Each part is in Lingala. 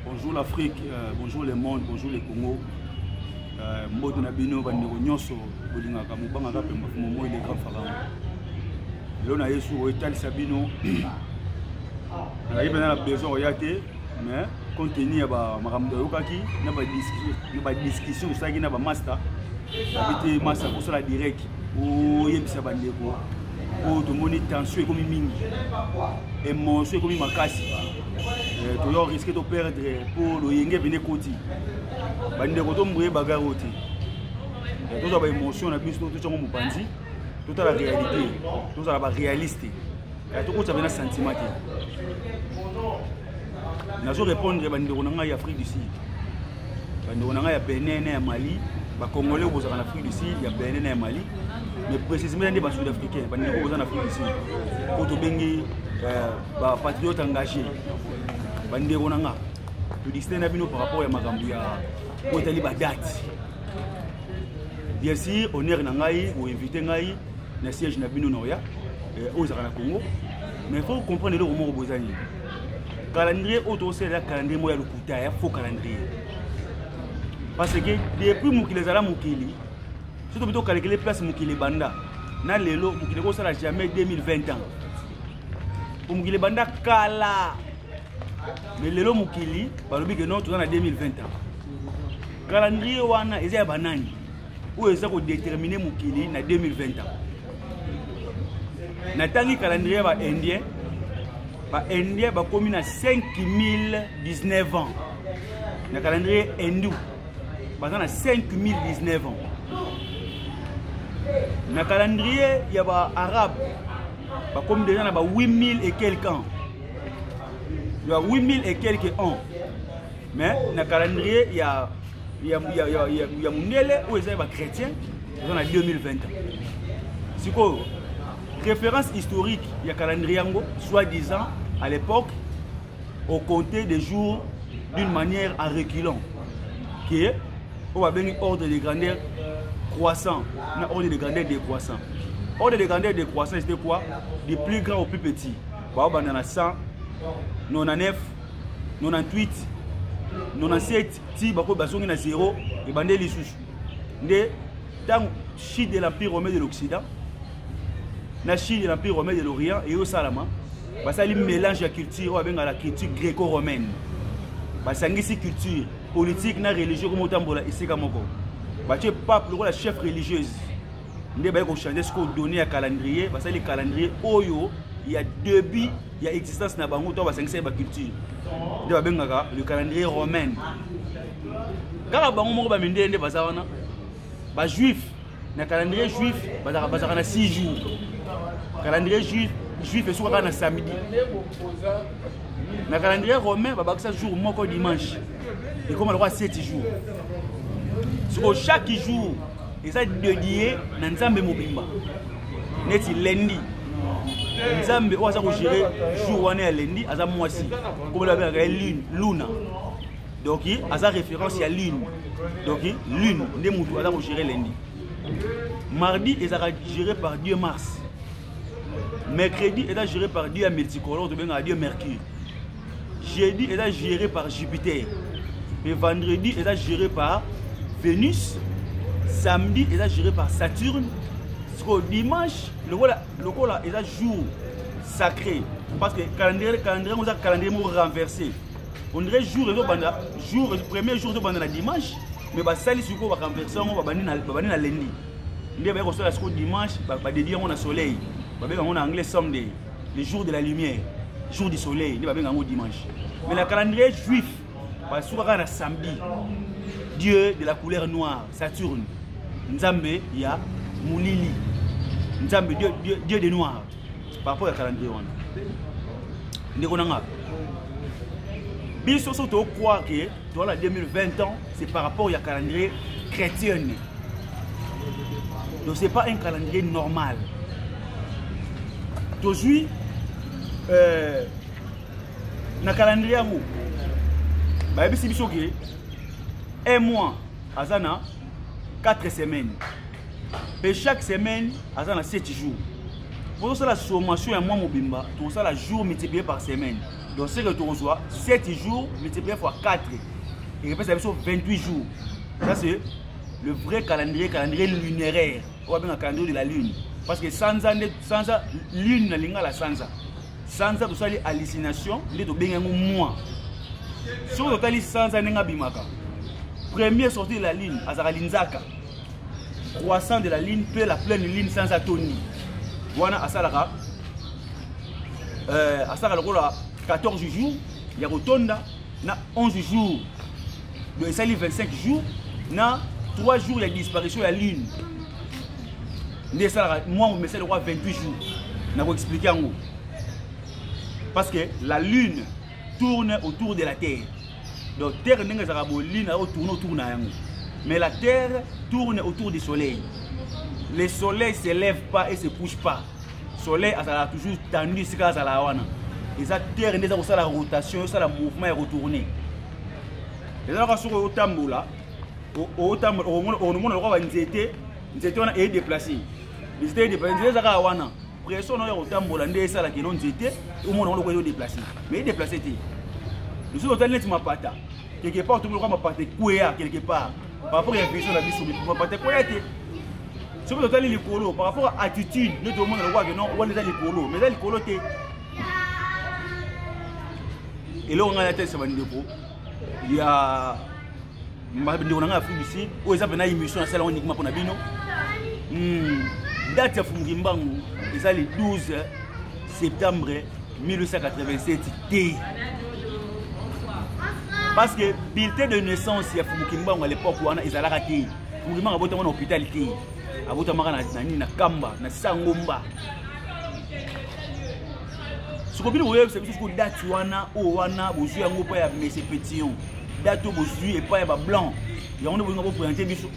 bonjour l'afrique euh, bonjour le monde bonjour le congo euh, mbote na bino bandeko nyonso bolingaka mobangaka mpe momoi le grand pharaon lelo na yesu oyo etalisa bino nazalaki mpena na besoin oya te mais compte tenu ya makambo toyokaki na badiscussion osalaki na bamasta abi te masta kosala direct oyebisa bandeko oyo tomoni tension ekomi mingi emotion ekomi makasi eh, toyo riske toperdre mpo loyenge ebende ekoti bandeko tomboye bagare oyo te eh, tozwa baemotion na biso totyango mopanzi totala réalité tozala baréaliste eh, tokotya mpena sentiment te nazo répondre bandeko na ngai ya afrique du sud bandeko na ngai ya benin na ya mali bacongolais kozalaka na afrique du sud ya benin na ya mali mais précisément nde basud africain bandeko koza na afrique du sud oyo tobengi euh, bapatriote engagé bandeko na nga todistin na bino par rapport ya makambo ya oyo etali badate bien sûr honneur na ngai boinvite ngai na siège na bino na oya eh, oyo ezalaka na congo mais faut comprendre eloko moko boza nini calendrier oyo tokosalela calendrier moko ya lokuta ya faux calendrier parce que depuis mokili ezala mokili soki tobi tokalekele place mokili ebanda na lelo mokili ekosala jamais 2020 ans po mokili ebanda kala mais lelo mokili balobi ke non toza na 2020 ans calendrier wana eza ya banani oyo eza kodetermine mokili na 2020 ans natangi calendrier ya baindien baindien bakomi na 5019 ans na calendrier hindou baza na 5019 ans na calendrier ya baarabe bakomi deja na ba 8000 et quelque ans ya 8000 et quelque ans mais na calendrier ya ya ya ya ya, ya mundele oyo eza ya ba chrétien eza na 2020 sikoyo référence historique ya calendrier yango soit disant à l'époque au compter des jours d'une manière à reculant que oyo babengi ordre de grandeur croissant na ordre de grandeur décroissant ordre de grandeur décroissant c'était quoi du plus grand au plus petit baobanda na 199 98 97 ti bakoyo bazongi na zero ebande lisusu nde ntango chute de l'empire romain de l'occident na chute de l'empire romain de l'orient eyosalama basali mélange ya culture oyo abengaka la culture gréco romaine basangisi culture politique na religieux komo otambola esika moko batie pape lokola chef religieuse nde baye kochange sikoyo donne ya calendrier basali calendrier oyo ya début ya existence na bango to basangisa ye baculture nde babengaka le calendrier romaine kaka bango moko bamindele nde baza wana bajuif na calendrier juif bazalaka na 6 jours calendrier juif juif esukaka na samedi na calendrier romain babakisa jour moko dimanche ekoma lokola 7 jours siko chaque jour eza dedie na nzambe mobimba neti lendi nzambe oyo aza kogere jour wana ya lendi aza mwasi komela babengaka ye lune luna donc aza référence ya lune donc lune nde motu aza kogere lendi mardi ezalaka géré par dieu mars mercredi eza géré par dieu ya multicolore tobengaka dieu mercure jeudi eza géré par jupiter mais vendredi eza géré par vénus samedi eza géré par saturne sikoyo dimanche lokola lokola eza jour sacré parce que calendrier calendrier yango eza calendrier moko renversé on dirait jour ezobanda jour premier jour ezobanda na dimanche mais basali sikoyo barenverse yango babandi na lendi nde baye kosala sikoyo dimanche badedi yango na soleil babenga yango na anglais someday le jour de la lumière jour du soleil nde babenga yango dimanche mais na calendrier juif basuka kaka na samedi dieu de la couleur noire saturne nzambe ya molili nzambe dieu, dieu, dieu de noir par rapport ya calendrier wana ndeko na nga biso so tokroire ke Toi la 2020 ans, c'est par rapport à calendrier chrétien. Donc c'est pas un calendrier normal. Aujourd'hui, euh, na calendrier yango bayebisi biso ke un mois aza na 4 semaines mpe chaque semaine aza na 7 jours bozosala sommation ya mwa mobimba tokosala jour multiplié par semaine donc ce que tokozwa 7 jours multiplié fois 4 ekopesa biso 28 jours ça c'est le vrai calendrier calendrier lunéraire oyo abenga calendrier de la lune parce que sanza nde sanza lune na lingala sanza sanza tosali hallucination nde tobengi yango moi soki totali sanza ndenge abimaka premier sorti de la lune azalaka linzaka croissant de la lune mpe la pleine lune sans atoni wana asalaka euh, asalaka lokola 14 jours ya kotonda na 11 jours do esali 25 jours na 3 jours ya disparition ya lune nde esalaka mwa momesali lokola 28 jours na koexplike yango parce que la lune tourne autour de la terre donc terre ndenge ezalaka bolina oyo tourne autour na yango mais la terre tourne autour du soleil le soleil se lève pas et se couche pas soleil azalaka toujours tendu esika azalaka wana eza terre nde eza kosala rotation osala mouvement ya kotourne ezalaka soki otambola otambola okomona lokola banzete nzete wana edeplace nzete edeplace nzete ezaka wana pression nayo ya kotambola nde esalaka eno nzete omona ngo lokola ezo deplace mais edeplace te lisusu otali neti mapata quelque part tomi lokola mapata ekweya quelque part par rapport ya vision na biso mapata ekweya te soki totali likolo par rapport ya attitude nde tomona lokola keno wana eza likolo mais eza likolo te eloko ngai natalisama ndeko ya ndeko na ngai afrique du sud oyo eza mpena émission nasala yango nikima mpo na bino hmm, date ya fumuki mbangu eza le 12 septembre 1887 te parce que bulletin de naissance ya fumuki mbangu à l'époque wana ezalaka te fumuki mbangu abotama na hôpital te abotamaka na nini na kamba na sangomba soko bino boyebisa biso soko date wana oyo wana bozwi yango epai ya mese petillon date oyo bozwi epai ya bablanc yango nde bolinga boprésente biso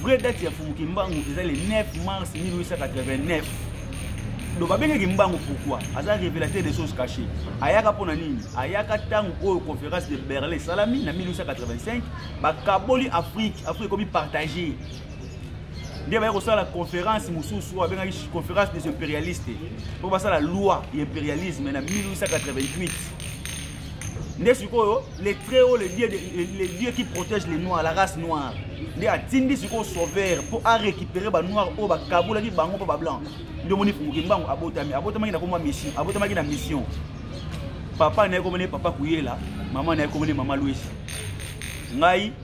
vraie date ya fumuki mbangu eza le 9 mars 1889 donc babengaki mbangu pourquoi aza révélateur des choses cachées ayaka mpo na nini ayaka ntango oyo conférence de berlin esalami na 1885 bakaboli afrique afrique ekomi partage nde baye kosala conférence mosusu oyo abengaki conférence des impérialistes mpo basala loi ya impérialisme na 1888 nde sikoyo le très haut le dieu, le, le dieu qui protège les noirs la race noire nde atindi sikoyo sauveur mpo arécupere banoir oyo bakabolaki bango mpo bablanc nde omoni funguki mbango abotami abotamaki na komwa mission abotamaki na mission papa na ye komone papa kuyela mama na ye komone mama lwesi ngai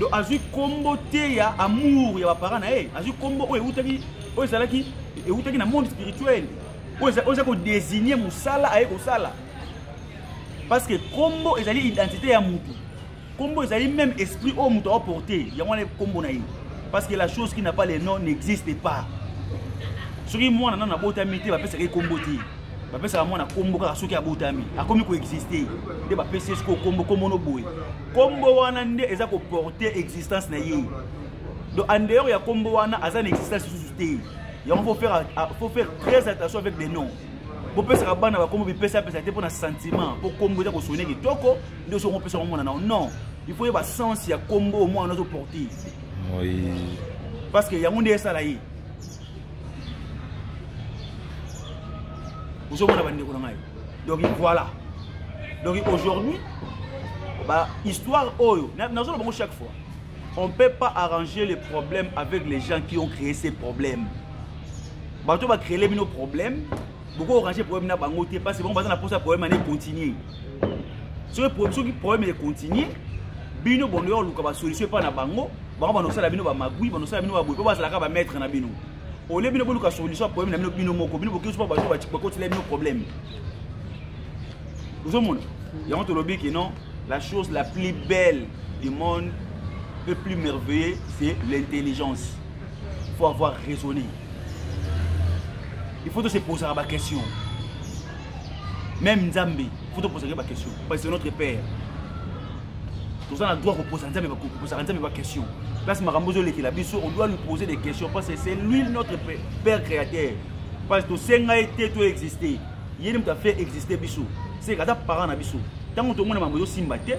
donc azwi nkombo te ya amour ya baparent na ye azwi nkombo oyo eutaki oyo ezalaki eutaki na monde spirituel oyo eza kodesigne mosala aye kosala parce que nkombo ezali identité ya motu nkombo ezali même esprit oyo moto aoporte yango wana nkombo na ye parce que la chose qui n'a pas le nom n'existe pas soki mwana nano abotami te bapesaka ye nkombo te bapesaka mwana nkombo kaka soki abotami akomi koexiste nde bapesi ye sikoyo nkombo nkombo no boye nkombo wana nde eza koporte existence na ye donc en dehors ya nkombo wana aza na existence lisusu te yango faut faire, faut faire très attention avec des noms bopesaka bana bakombo bipesa apesa te mpo na sentiment mpo nkombo eza kosone kitoko nde soki opesaka mwana nao non il faut yeba sens ya nkombo omwana azoporte parce que yango nde esala ye ozomona bandeko na ngai donc voilà donc aujourd'hui ba histoire oyo nazoloba bango chaque fois on ne peut pas arranger les problèmes avec les gens qui ont créé ces problèmes bato bacréele bino problème boko orange problème na bango te parce que bango baza na posa problème ane continue soki problème econtinue bino bondo ya koluka basolution epai na bango bango banosala bino bamagui banosala bino baboye mpo bazalaka bamaître na bino olie bino boluka solution ya problème na bino bino moko bino bokoki sopa bato bakotela bino problème ozomona yango tolobi ke non la chose la plus belle du monde le plus merveilleux c'est l'intelligence faut avoir raisonné il faut se poser la question même nzambe il faut te poser la question parce que c'est notre père toza na droit koposa nzambe kopesaka nzambe baquestion place makambo ozolekela biso on doit lui poser des questions parce que c'est lui notre père créateur parce tosenga ye te to existe ye nde moto afaire existe biso seka ata parent na biso ntango tomona mambo ezosimba te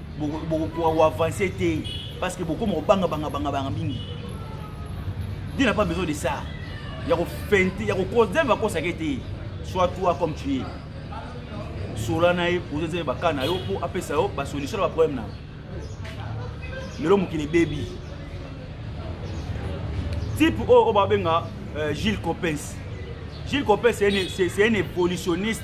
bokoavance te parce que bokoma kobanga banga banga banga mingi Dieu n'a pas besoin de ça ya kofente ya kokosa nzambe akosaka ete soit toi comme tu es sola na ye poza nzambe baka na yo mpo apesa yo basolution na baproblème na lelo mokili ebebi type oyo oyo babenga euh, gilles copens gilles copens c'est un évolutionniste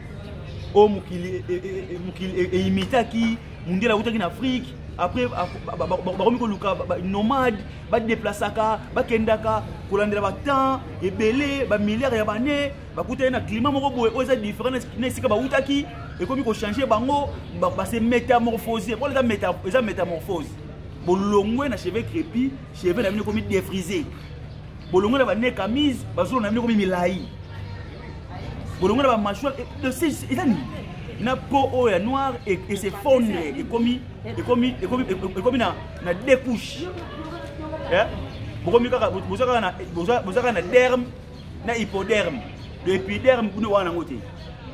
oyo mokili eimitaki mundele akutaki na afrique après bakomi koluka nomade badeplasaka bakendaka kolandela batemps ebele bamilliare ya bane bakutaki na klima moko boye oyo eza différent na esika bautaki ekomi kochange bango base métamorphose mpona eza métamorphose bolongwe na cheveux crépi cheveux na bino ekomi defrise bolongo na bane kamise bazolo na bino ekomi milai bolongo na bamashwal eza nini na po oyo ya noir esefondre ekomi ekomi ekomi ekomi na na deux couches eh? bokomi kaka boza kaka na boza kaka na derme na hypoderme le hypoderme kuna wana yango te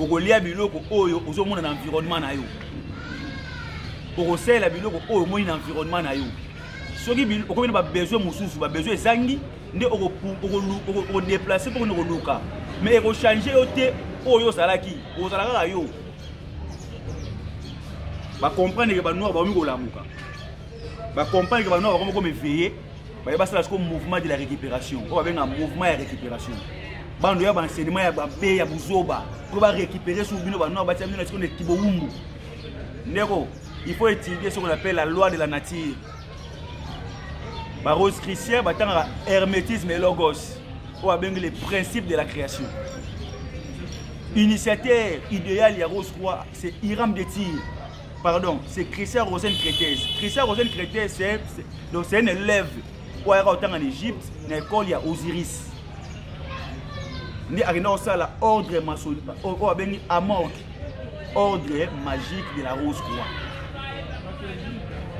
okolia biloko oyo ozomona na environnement na yo okosalela biloko oyo omoni na environnement na yo soki okomi na babesoin mosusu babesoin ezangi nde okodeplace mpo koni koluka mais ekochange yo te oyo ozalaki ozala kaka yo bacomprendre ke banoir bakomi kolamuka bacomprendre ke banoir bakomi komeveye baye basala siko mouvement de la récupération oyo babenga mouvement ya récupération bando ya baenseignement ya babe ya buzoba po barécupere sur bino banor batia bino na siko neti bowumbu ndeko il faut étudier ce qu'on appelle la loi de la nature barose christian batangaka hermétisme et logos oyo babengi le principe de la création initiateur idéal ya rose roi c'est hiram de tire pardon c'est christian rosen crétese christian rosen crétese c'est donc c'est un élève oyo ayaka kotanga na égypte na école ya osiris nde akenda kosala ordre masoli oyo abengi amorg ordre magique de la rose croix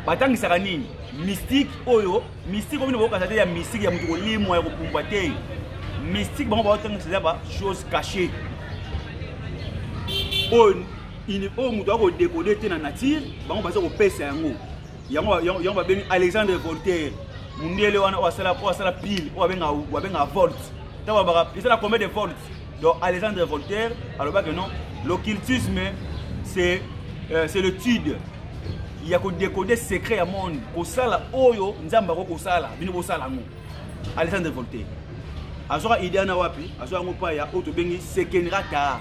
batangisaka nini mystique oyo mystique oyo bino bokokasa te ya mystique ya moto kolimwa ya kopumbwa te mystique bango baotangisa eza ba chose cachée oyo il oyo moto ako décoder te na nature bango baza kopesa yango yango yango babengi alexandre voltaire mundele wana oyo asala oyo asala pile oyo abenga abenga volt ntango babaka ezala combien de volt donc alexandre voltaire alobaki non l'occultisme c'est euh, c'est l'étude ya kodécode secret ya monde kosala oyo nzambe akoki kosala bino bosala yango alexandre voltaire azwaka idea na wapi azwa yango mpa ya oyo tobengi sekenrata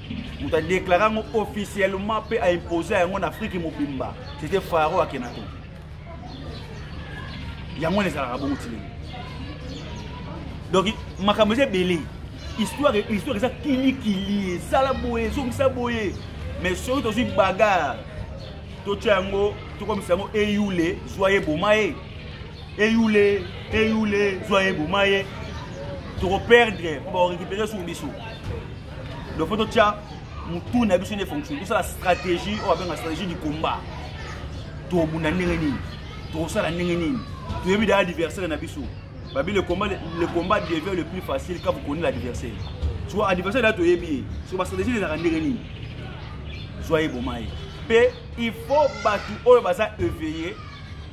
moto adéclara yango officiellement mpe aimposa yango na afrique mobimba c'était faro akenato yango wana ezalaka bongo tilenge donc makambo eza ebele histoire histoire eza kilikili esala boye ezongisa boye mais soki tozwi bagare totya yango tokomisa yango eyule zwa ye boma ye eyule eyule zwa ye boma ye tokoperdre bakorekipere sur biso donc faut totya motu na biso nde fonctionne tosala stratégie oyo abenga stratégie du combat tobunda ndenge nini tokosala ndenge nini toyebi da adversaire na biso babi le combat le combat devient le plus facile quand vous connaissez l'adversaire soko adversaire na toyebi ye soko bastratégie ezalaka ndenge nini zwa ye boma ye mpe il faut bato oyo baza éveillé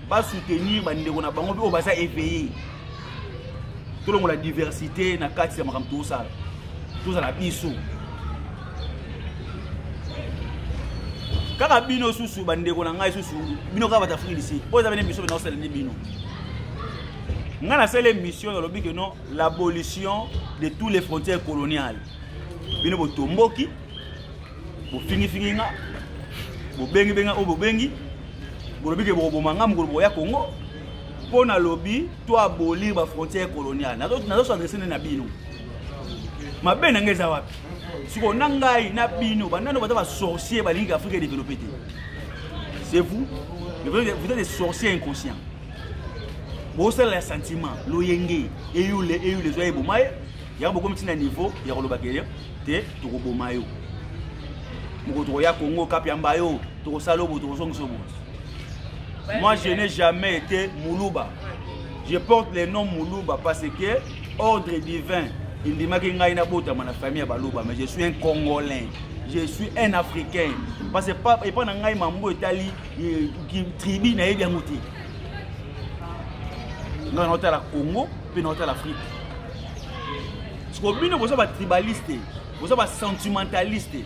basoutenir bandeko na bango mpe oyo baza éveillé tolongola diversité na kati ya makambo tosala tozala biso kaka bino susu bandeko na ngai susu bino kaka bato afrique disi oyo eza bene biso bena osala nde bino ngai nasala émission nalobi ke non l'abolition de tous les frontières coloniales bino botomboki bofingifingi nga bobengi benga oyo bobengi bolobi ke bokoboma nga mokolo bokoya kongo mpo nalobi to abolir bafrontière coloniale nazosadrese nde na bino mabe na ngai eza wapi sikoyo na ngai na bino banano baza basorcier balingi ke afrika edeveloppe te c'est vous vous êtes des sorciers inconscients bosalela ya sentiment loyenge eyule eyule ezwa eboma ye yango bokomi ntina niveau ya koloba ke te tokoboma yo moko tokoya kongo kapi ya mbayo tokosala obo tokozongisa obo moi je n'ai jamais été muluba je porte le nom muluba parce que ordre divin endimaki ngai nabotama na famille ya baluba mais je suis un congolais je suis un africain parce que epai na ngai mambo etali eh, tribu nayebi yango te ngai naotala congo mpe na otala afrique siko bino boza batribaliste boza basentimentaliste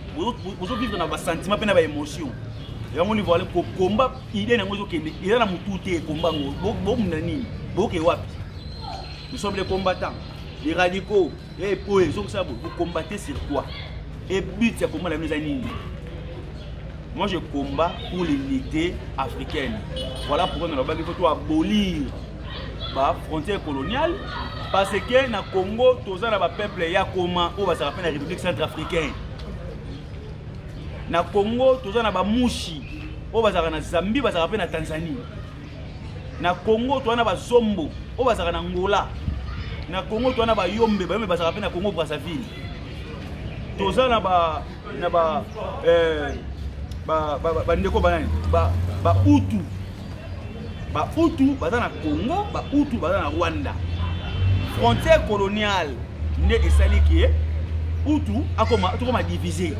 bozovivre na basentiment mpe na baémotion yango ni voile kokomba idée na yango ezokende eza na motu te ekomba yango bomuna nini boke wapi nous sommes les combattants les radicaux e po ezokisa bo bokombate sur quoi e but ya komba na bino eza nini moi je combat pour l'unité africaine voilà pourquoi nalobaki fo to abolir ba frontière coloniale parce que na congo toza na bapeuple ya koma oyo bazalaka mpe na république centrafricaine na congo toza na bamushi oyo bazalaka na zambie bazalaka mpe na tanzanie na congo toza na bazombo oyo bazalaka na ngola na congo toza na bayombe bayombe bazalaka mpe na congo brazzaville toza na ba na ba eh, ba ba ba ndeko banani ba ba utu ba utu baza na Congo ba utu baza na Rwanda frontière coloniale nde esali ke utu akoma tokoma divise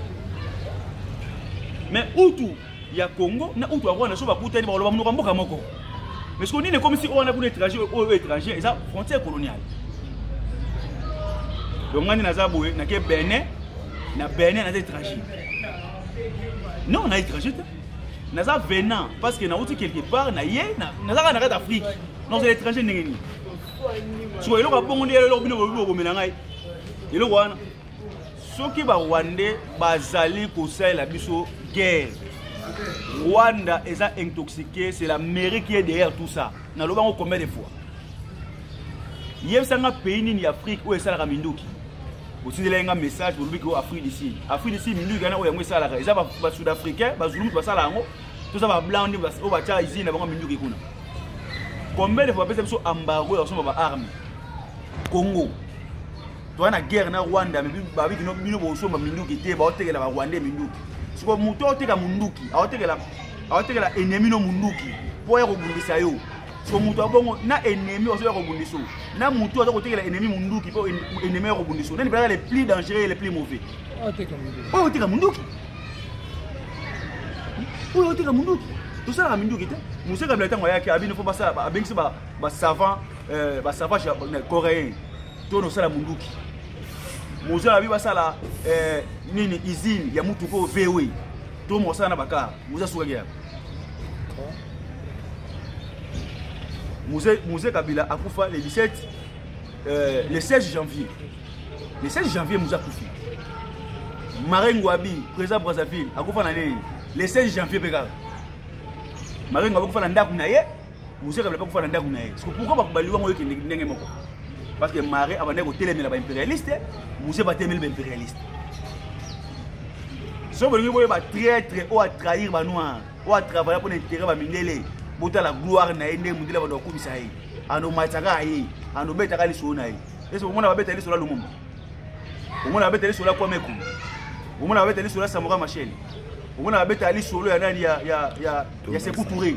mais utu ya congo na utu ya rwanda so bakutani bakoloba monoko ya mboka moko mais siko nini ekomisi oyo wana kuna étranger oyo étranger eza frontière coloniale donc ngai nde naza boye nake benin na benin naza étranger non na étranger te naza venant parce que nauti quelque part na ye nazaka na kati afrique nakozala étranger ndenge nini siko eloko ya bongo nde eloko bino bobi bokomela ngai eloko wana soki barwandais bazali kosalela biso guerre rwanda eza intoxiqué c'est l'amérique ye derrière tout ça naloba yango combien de fois yebisa nga pays nini ya afrique oyo esalaka minduki otindelaki nga message olobi ke oyo afrique du sud afrique du sud minduki wana oyo yango esalaka eza basud africain bazulu moto basala yango toza bablanc nde oyo batya usine na bango minduki kuna combien de fois bapesa biso embargo ya kosomba baarme congo toa na guerre na rwanda babi kino bino bosomba minduki te baotekela barwandais minduki siko moto aoteka munduki aotekela aotekela enemi no munduki mpo ya kobundisa yo so moto abongo na ennemi ozo ya kobundisa oyo na moto aza kotekela ennemi monduki mpo ennemi ya kobundisa oyo nani mpelaka le plus dangereux le plus mauvais oyo oteka monduki oyo oteka monduki tosalaka minduki te mose kabila ntango ayaki abino mpo abengisi basavant basavant coréen to nosala munduki mozo na bi basala eh, nini usine ya mutuka oyo vewe to mosala na bakar moza sukaki yaka muze kabila akufa le 17 euh, le 16 janvier le 16 janvier muze akufi marin ngwabi président brazzaville akufa na nini le 16 janvier mpe kaka marin ngwabi akufa na ndako na ye moseka bala bakufa na ndako na ye siko pourkoi bakobali wango oyokende ndenge moko parce que mare abandaki kotelemela baimpérialiste mose batelemeli baimpérialiste soki bolingi boyeba traitre oyo atrahir banoir oyo atravaille mpo na intere bamindele botala gloire na ye ndenge mondele bando akumisa ye anomatisaka ye anobetaka lisolo na ye ese omona babeta lisolo ya lumumba omona babeta lisolo ya kwame ekulu omona babeta lisolo ya samora machel omona babeta lisolo ya nani ya sekou toure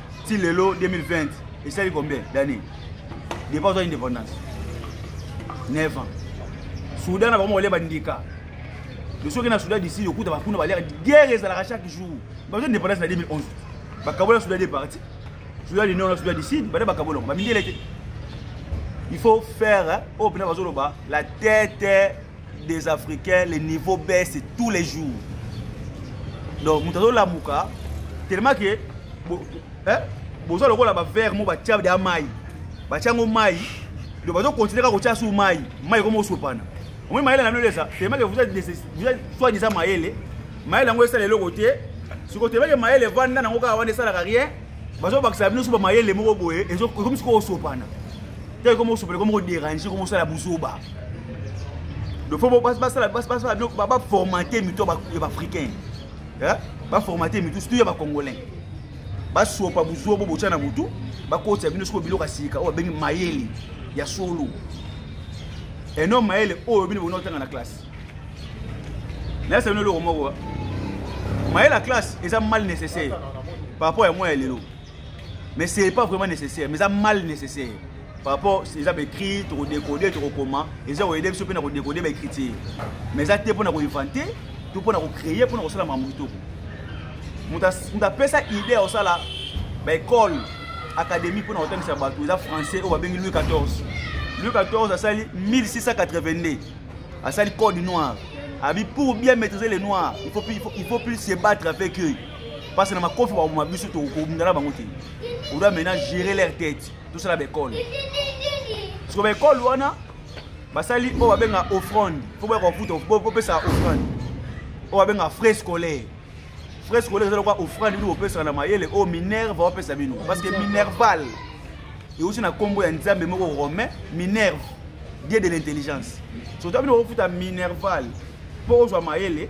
ti lelo 2020 esali combien d'année depa ozwa indépendance 9 ans soudan na bango balia bandika soki na soudan disi okuta bakuna baliaka guerre ezalaka chaque jour bazo indépendance na 2011 bakabola soudan de parti soudan du nord na soudan du sud bada bakabolaka bamindele te il faut faire oyo oh, mpena bazoloba la tete des africains le niveau baisse tous les jours donc moto azolamuka tellement ke boza lokola bavere mo batya ya mai batya yango mai donc bazokontinue kaka kotya su mai mai ekoma osopana omoi mayele na bino elesa tellement ke vous êtes soit disant mayele mayele yango esala eloko te sikoyo tellement ke mayele evanda nango kaka wana esalaka rien bazobakisa bino so bamayele moko boye ekomi sikoyo osopana te ekoma osopana ekoma koderange ekoma osala buzoba dofo basala baformate mito ya baafricain baformate mito surtout ya bacongolais basopa buzuwa bo botya na motu bakotisa bino sikoyo biloko ya sika oyo babengi mayele ya solo eno mayele oyo bino bokona kotanga na classe nayesa bino eloko moko mayele ya classe eza mal nécessaire par rapport ya mwa ya lelo mais c'est pas vraiment nécessaire mais eza mal nécessaire par rapport eza baécrit tokodekode tokokoma eza koyede biso mpe na kodekode baécriture mais eza te mpo na koinvente to mpo na kocréer mpo na kosala makambo kitoko moto apesa idée ya kosala baekole académie mpo na kotangisa bato eza français oyo babengi louis 14 louis 14 asali 1682 asali code noir abi pour bien maîtriser les noirs il faut, il faut, il faut plus se battre avec eux parce que na makofi bakoma biso tokobunda na bango te odoit maintenant gérer leur tête tosala baekole siko baekole wana basali oyo babenga offrande fo boya kofuta bopesa offrande oyo babenga frais scolaire frais scolaire eza lokola offrande bino bopesaka na mayele oyo minerve bapesa bino parce que minerval euti na nkombo ya nzambe moko romain minerve dieu de l'intelligence soto bino bokofuta minerval mpo ozwa mayele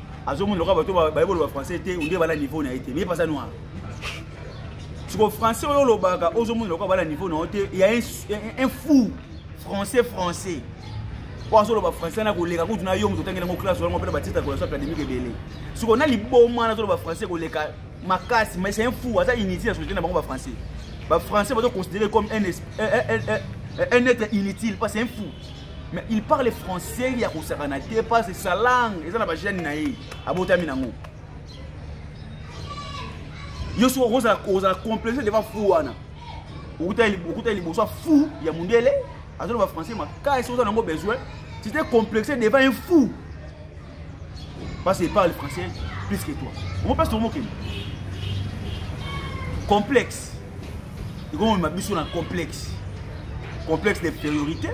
azomona lokola bato baye boloba français te onde bala niveau na ye te mais pasa noir siko français oyo olobaka ozomona lokola bala niveau na yo te ya un fou français français oyo azoloba français na koleka kutu na yo moto otangeli yango classe olango mpena batitre ya kolation académique ebele siko na liboma na azoloba français koleka makasi mais c'est un fou aza inutile ya société na bango bafrançais bafrançais bazoconsidere comme un, un, un, un, un être inutile parce un fou mais il parle français ya kosakana te parce sa langue eza na bagene na ye abotami nango yo soki okozala kozala complexe devant fou wana okuta liboso fou ya mondele azoloba français makasi oza nango besoin tite complexe devant un fou parce qu'il parle français plus que toi omo place tokomokende complexe ekomema biso na complexe complexe d'infériorité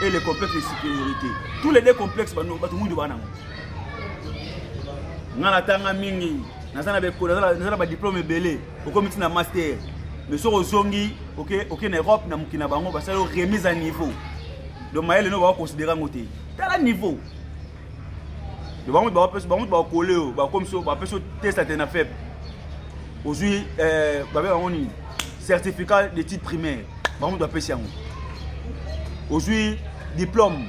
et le complexe de supériorité tous les deux complexes bato mingi baa nango ngai natanga mingi naza na bekolo naza na badiplome ebele okomi ntina master mais soki ozongi oke na europe na mokili na bango basali remise à niveau donc mayele no bakoconsidere yango te tala niveau bango bapesi bango bakole oyo bakomisi oyo bapesi otesta te na fep ozwi eh, babe bango nini certificat d'étude primaire bango moto bapesi yango ozwi diplôme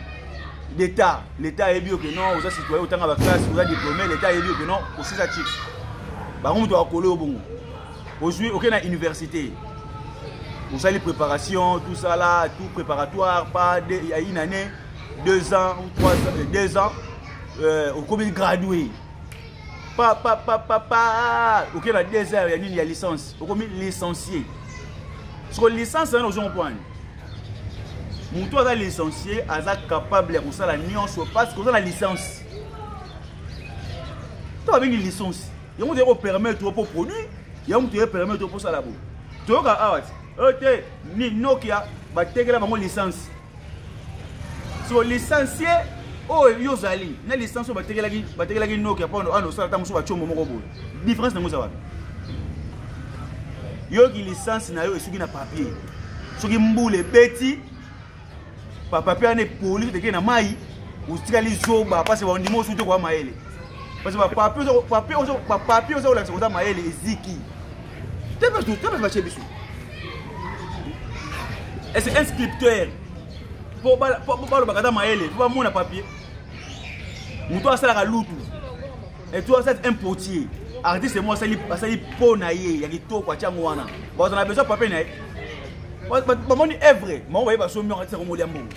d'état l'état ayebi yo ke non oza citoyen otanga baklasse oza diplôme l'état ayebi yo ke non osisa chik bango moto bakole yo bongo ozwi oke na université osali préparation tout ça là tout préparatoire pas ya une année deux ans ou trois ans euh, deux ans euh, okomi gradué papa papa papa oke na deux heures ya nini ya licence okomi licencié soko licence wana ozo comprendre moto aza licencié aza capable ya kosala nyonso parce que oza na licence to babengi licence yango toyei kopermettre yo mpo produit yango toyei permettre yo mpo osala boye toyoka awa te oyo te nokia batekela bango licence so licencie oyo yo ozali na licence oyo batekelaki batekelaki noki ya pano ana osala ntango mosusu bacombo moko boye différence nango eza wapi yoki licence na yo esuki na papier soki mbula ebeti papapier wana epoli otekei na mai otikali zoba mpasi bandima osuki te koya mayele parce que papier oza kolakisa koza mayele eziki Tebe tu, tebe bache bisu. Et c'est un scripteur. Pour bala pour bala bakata maele, pour mon papier. Muto asala ka lutu. Et toi c'est un potier. Artiste moi asali asali po na ye ya kitoko atia ngwana. Ba on a besoin papier na ye. Ba moni evre, ma oye ba so mi artiste ko molia mbongo.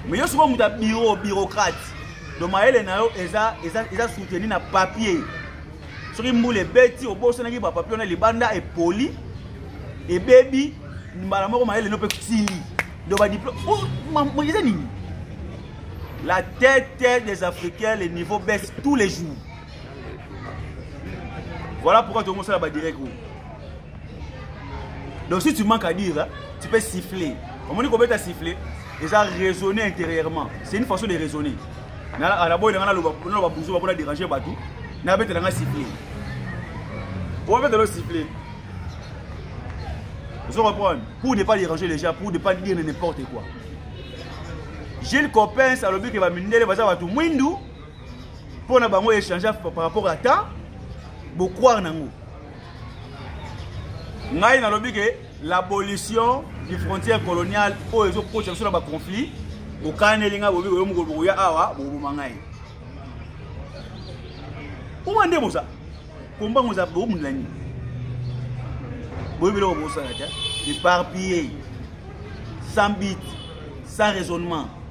Mais yo souvent muta bureau bureaucrate. Donc maele na yo eza eza eza soutenu na papier. soki mbula ebeti obosanaki bapapio na libanda epoli ebebi mbala moko mayele no mpe sili donc badiplome oh, eza nini la tête des africains le niveau baisse tous les jours voilà pourquoi tokosala badirect oyo donc si tu manques à dire hein, tu peux siffler omoni kobeta siffler eza raisonner intérieurement c'est une façon de raisonner naboyela nga naloba buzo bakona déranger bato nabetela nga siffler obetela o siffler ozo comprendre pour ne pas déranger les gens pour ne pas dire n'importe quoi gilles copens alobi ke bamindele baza bato mwindu mpo na bango échange par rapport à temps bocroire nango ngai nalobi ke l'abolition du frontière coloniale oyo ezokotisa biso na baconflit okaneli ngai bobi oyo mokolo bokoya awa bokoboma ngai oma nde boza kombango eza bokomundela nini boyebi biloko bosala te éparpillé sans but sans raisonnement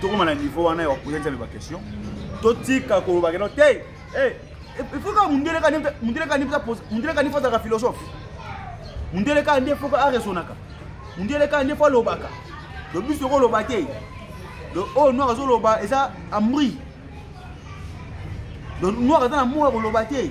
tokoma na niveau wana ya kopoza nzambe baquestion totika kolobaka no te eh, ifoka eh, mundele kani mundele kani mundele kani fozalaka philosophe mundele kani nde foka aresonaka mundele kani nde fo alobaka do biso okoloba te do oyo oh, noir azoloba eza amri do noir aza na moya koloba te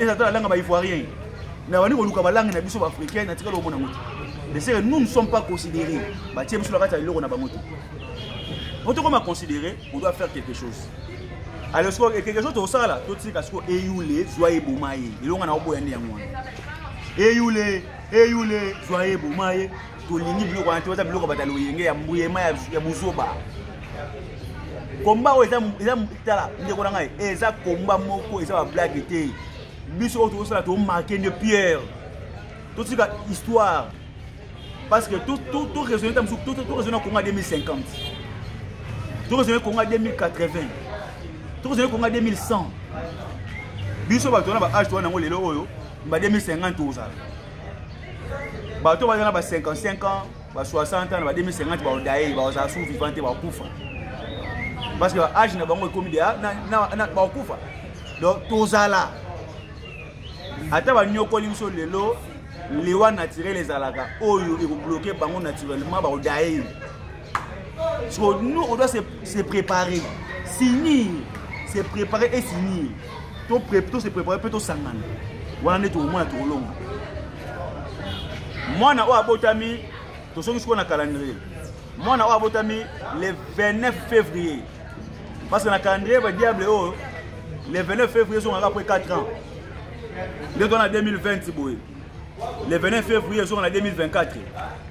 eza to alanga ba ivoirien na bani koluka balangi na biso baafricain na tikala omona yango te de sere nous ne sommes pas considéré batie biso na kati ya eloko na bango te po tokoma considéré on doit faire quelque chose alors sikoyo e quelque chose tosala totika sikoyo eyule zwa ye boma ye elonga na oboya nde yango wana eyule eyule zwa ye boma ye tolingi biloko wana te oza biloko bata loyenge ya mbuyema ya buzoba komba oyo eza tala ndeko na ngai eza komba moko eza bablage te biso oyo tokosala tomarke nde pierre totika histoire parce que toraisonne ta mosuku toraisonne na konga 2050 toraisonne konga 2080 toraisonne konga 2100 biso bato wana baage towana yango lelo oyo ba 2050 tozala bato baza na ba 55 ans ba 60 ans na ba 2050 baodaye bakozala su vivant te bakufa parce que age na bango ekomi deya bakufa donc tozala ata banyokoli biso lelo liwa naturel ezalaka oyo ekobloke bango naturellement bakodaye so nous on doit se, se préparer finir se préparer et finir to, pré, to se préparer mpe tosangana wana nde tokomona tokolonga mwana oyo abotami tosoki sikoyo na calendrier mwana oyo abotami le 29 février parce que na calendrier ba diable oyo le 29 février ezongaka après 4 ans nde to na 2020 boye le 29 février ezonga na 2024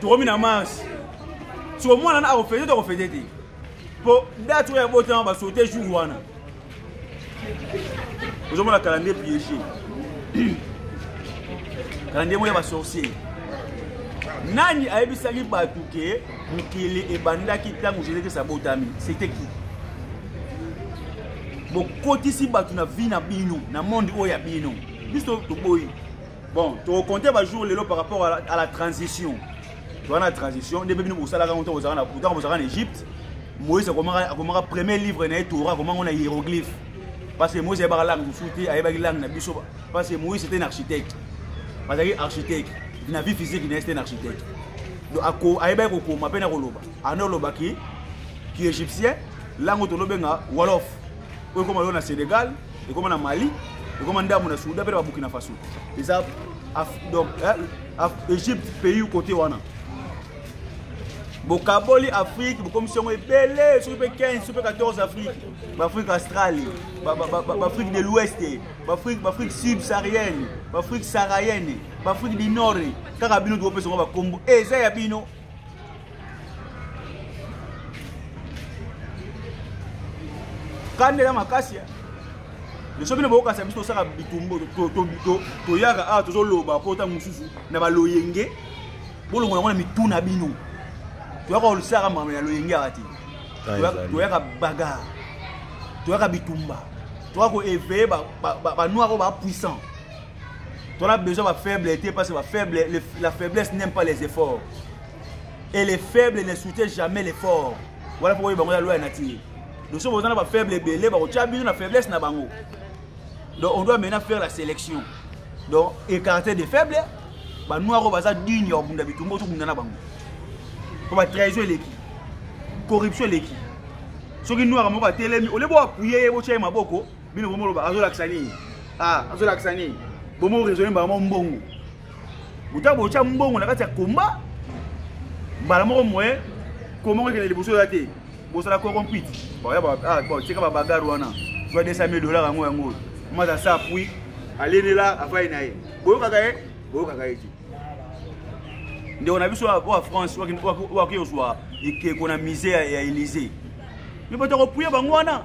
tokomi na marche siko mwana na akofete to akofete te mpo date oyo abotama basote jour wana ozomona calendrier piege calendrier moko ya basorcier nani ayebisaki bato ke mokili ebandaki ntango jesus krist abotami sete ki bokotisi bato na vi na bino na monde oyo ya bino biso toboyi bon tokokonte bajour lelo par rapport à la, à la transition toza na transition nde mpe bino bosalaka yango ntango bozalaka na egypte moïse akomaka premier livre na ye tora akomango na hieroglyphe parce que moïse ayebaka langue mosusu te ayebaki langue na biso parce que moïse était un architecte azalaki architecte na vie physique na ye c'était un architecte donc ayebaki kokoma mpe na koloba ana olobaki ki égyptien langue tolobenga wolof oyo ekoma yo na sénégal ekoma na mali ekoma ndambo na souda mpe na babukina faso eza donc egypte pays kote wana bokaboli afrique bokomisi yango ebele soki mpe 15 soki mpe 14 afrique baafrique australie baafrique de l'ouest baafrique subsaharienne baafrique saharienne baafrique du nord kaka bino tokopesa yango bakombo eza ya bino kanda eza makasi biso bino bokokanisa biso tosaka bitumbo toyaka awa tozoloba mpo ntango mosusu na baloyenge bolongola yango na mitu na bino toyaka olisaka makambo ya loyenge awa te toyaka bagar toyaka bitumba toyaka koeveye banoir oyo bapuissant Ton a besoin ba faible était parce que ba faible le, la faiblesse n'aime pas les efforts. Et les faibles ne soutiennent jamais l'effort. Voilà pourquoi bango ya loi nature. Donc si vous avez ba faible belé ba kotia bino na faiblesse na bango. Donc on doit maintenant faire la sélection. Donc écarter des faibles ba noirs baza digne ya bunda bitumbo to bunda na bango. Pour ba trahison eleki. Corruption eleki. Soki noir moko atelemi, olebo appuyer ye botia ye maboko. bino bomo loba azolakisa nini ah azolakisa nini bomo raisonne mbala moko mbongo botya botya mbongo na kati ya komba mbala moko moye komba ngo ekende liboso oya te bosala corrompite ah, tika babagare wana zwa 200 mille dollar yango yango mwaza asa apui alenela afai na ye boyokaka ye boyokaka ye te ndeko na biso oyo france oyo akei ozwa ekeko na musée ya élysée me bato akopuya bango wana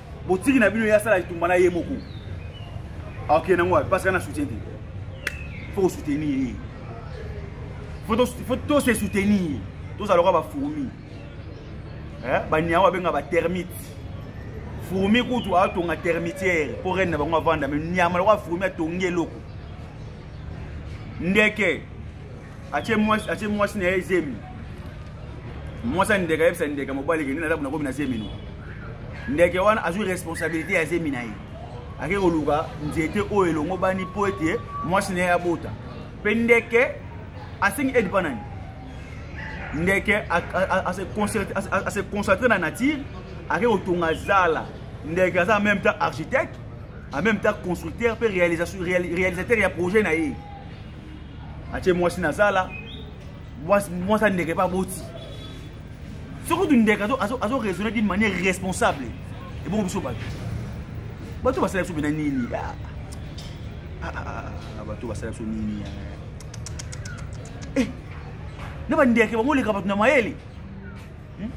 botiki na bino ye asala etumba na ye moko akokende yango wapi parce que na soutien te fo kosoutenir ye fo tose soutenir tozala lokola bafourmi baniango babenga batermite fourmi kutu atonga termitiere mpo rene na bango avanda me nyama lokola fourmi atongi eloko ndeke atie mwasi atie mwasi na ye zemi mwasi andeka yebisa ndeka mobali kende naza nakomi na zemi no ndeke wana azwi responsabilité ya zemi na ye ake koluka nzete oyo elongobani mpo ete mwasi na ye abota mpe ndeke asengi aide mpa nani ndeke ase concentre na nature ake kotonga zala ndeke aza en même temps architecte en même temps constructeur mpe réalisateur ya projet na ye atie mwasi na zala mwasi andeke mpe aboti soki kutu ndeke azo raisonne d'une manière responsable ebongo biso bato bato basala biso mpena nini ah, ah, ah, bato basala biso nini eh, na bandeke bango oleka bato na mayele hmm?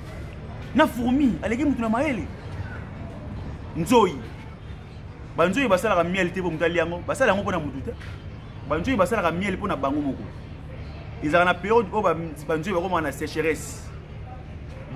na fourmi aleki motu na mayele nzoi banzoyi basalaka miel te mpo moto alia yango basala yango mpo na motu te banzoyi basalaka miel mpo na bango moko ezalaka na periode oyo banzoyi bakomaka na sécheresse